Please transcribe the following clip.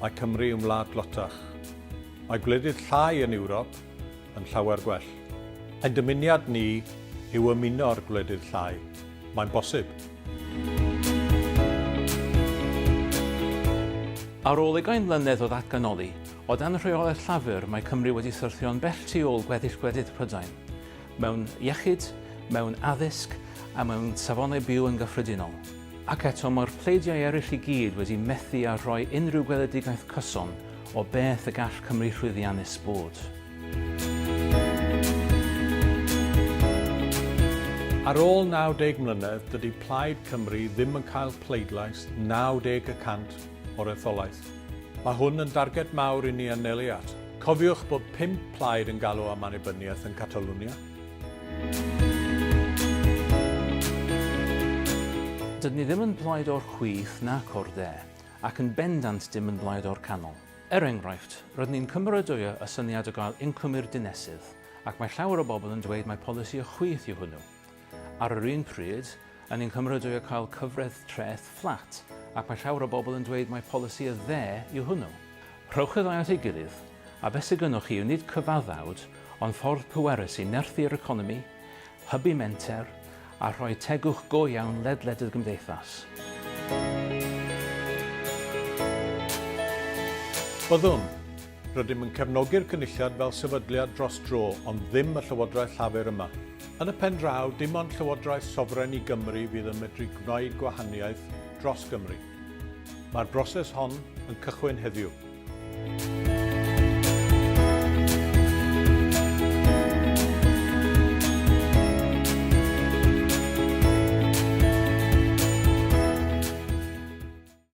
Mae Cymru yn wlad dlotach. Mae gwledydd llai yn Ewrop yn llawer gwell. Ein dymuniad ni yw ymuno'r gwledydd llai. Mae'n bosib. Ar ôl ugain mlynedd o ddatganoli, o dan rheolaeth Llafur mae Cymru wedi syrthio'n bell tu ôl gweddill gwledydd Prydain, mewn iechyd, mewn addysg a mewn safonau byw yn gyffredinol. Ac eto, mae'r pleidiau eraill i gyd wedi methu â rhoi unrhyw weledigaeth cyson o beth y gall Cymru llwyddiannus bod. Ar ôl 90 mlynedd, dydy Plaid Cymru ddim yn cael pleidlais 90 y cant o'r etholaeth. Mae hwn yn darged mawr i ni anelu at. Cofiwch bod pump plaid yn galw am annibyniaeth yn Catalwnia. Dydyn ni ddim yn blaid o'r chwith nac o'r de, ac yn bendant dim yn blaid o'r canol. Er enghraifft, rydyn ni'n cymeradwyo y syniad o gael incwm i'r dinesydd, ac mae llawer o bobl yn dweud mai polisi y chwith yw hwnnw. Ar yr un pryd, Yn ein Cymru dwi a cael cyfraith treth fflat, ac mae llawer o bobl yn dweud mai polisi y dde yw hwnnw. Rhowch y ddau at ei gilydd, a beth sy gynnoch chi yw nid cyfaddawd, ond ffordd pwerus i nerthu yr economi, hybu menter, a rhoi tegwch go iawn ledled y gymdeithas. Byddwn, Rydym yn cefnogi'r Cynulliad fel sefydliad dros dro, ond ddim y Llywodraeth Llafur yma. Yn y pen draw, dim ond Llywodraeth sofren i Gymru fydd yn medru gwneud gwahaniaeth dros Gymru. Mae'r broses hon yn cychwyn heddiw.